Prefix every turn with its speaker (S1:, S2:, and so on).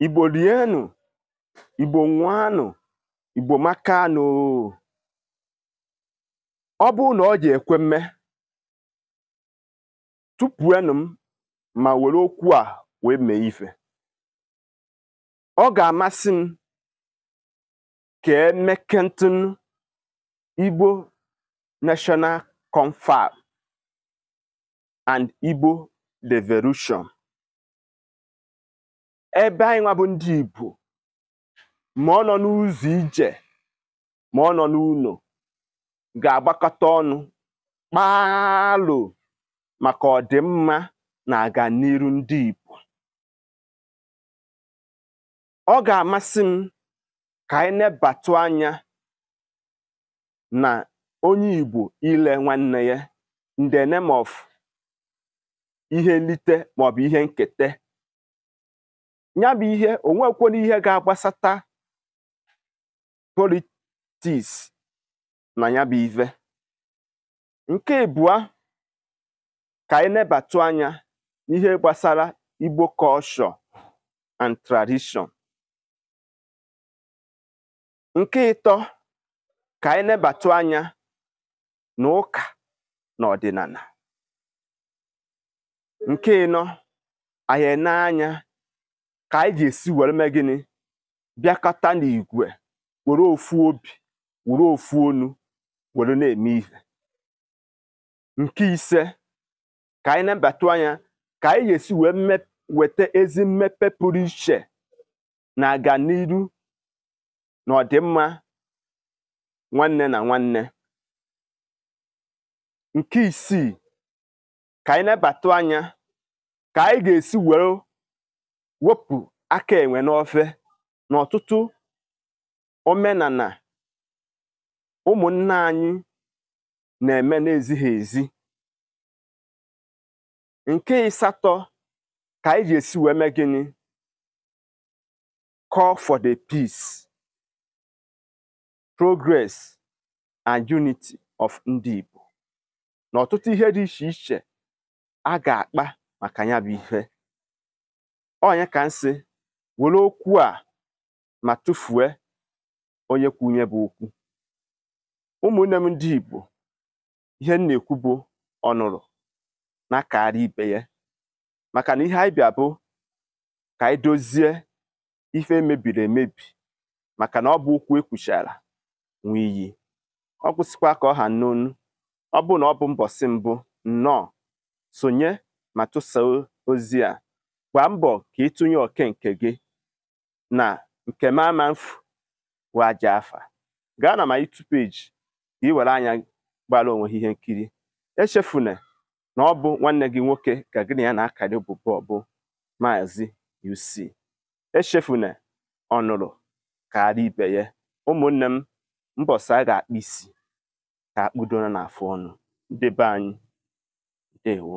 S1: igbo rienụ igbo ṅụanụ igbo makanụ ọ bụrụ na ọ ji ekwe mme tụfuenụ m ma were okwu a wee mee ife ọ ga-amasị m ka e mekenetụ igbo national confab and igbo devolution ebe anyị nwa bụ ndị Igbo ma ọ nọ n'ụzọ ije ma ọ nọ n'ụlọ ga-agbakọta ọnụ kpaalụ maka ọdịmma na aganiru ndị Igbo ọ ga-amasị m ka anyị nebatụ anya na onye Igbo ile nwanne ya in the name of ihe nlite maọbụ ihe nketa nya bụ ihe o nwekwere ihe ga-agbasata politics na nya bụ ive nke ịbụa ka anyị nebatụ anya n'ihe gbasara Igbo culture and tradition nke ịtọ ka anyị nebatụ anya na ụka na ọdịnala nke ịnọ anyị enee anya ka anyị ga-esi were mee gịnị bịakọta n'igwe were ofu obi were ofu onu were na-eme ihe nke ise ka anyị nebatụ anya ka anyị ga-esi wee mme- weta ezi mmepe pụrụ iche na aganiru na ọdịmma nwanne na nwanne nke isii ka anyị nebatụ anya ka anyị ga-esi were wepụ aka enwe n'ofe n'ọtụtụ omenala ụmụnna anyị na-eme na-ezighị ezi nke ịsatọ ka anyị ga-esi wee mee gịnị call for the peace progress and unity of ndị Igbo na ọtụtụ ihe dị iche iche a ga-akpa maka nya bụ ihe onye ka m sị were okwu a ma tụfue onye kwu nya bụ okwu ụmụnne m ndị Igbo ihe m na-ekwu bụ ọ nụrụ nya kaara ibe ya maka na ihe anyị bịa bụ ka anyị dozie ife mebiri emebi maka na ọ bụ ụkwụ ekwuchara nwe iyi ọ gwụsịkwa ka ọ ha m n'ọnụ ọ bụrụ na ọ bụ mbọsị mbụ nnọọ sonye ma tụsa ozi a gbaa mbọ ka ị tụnye oke nke gị na nke m ama mfu wee aja afa gaa na my YouTube page ka ị were anya gbara onwe gị ihe nkiri echefuna na ọ bụ nwanne gị nwoke ka gị na ya na-akarị ụbụbọ bụ maazị UC echefuna ọnụrụ kaara ibe ya ụmụnne m mbọsị a ga-akpụ isi ka akpụdona na afụ ọnụ ndị be anyị ndewo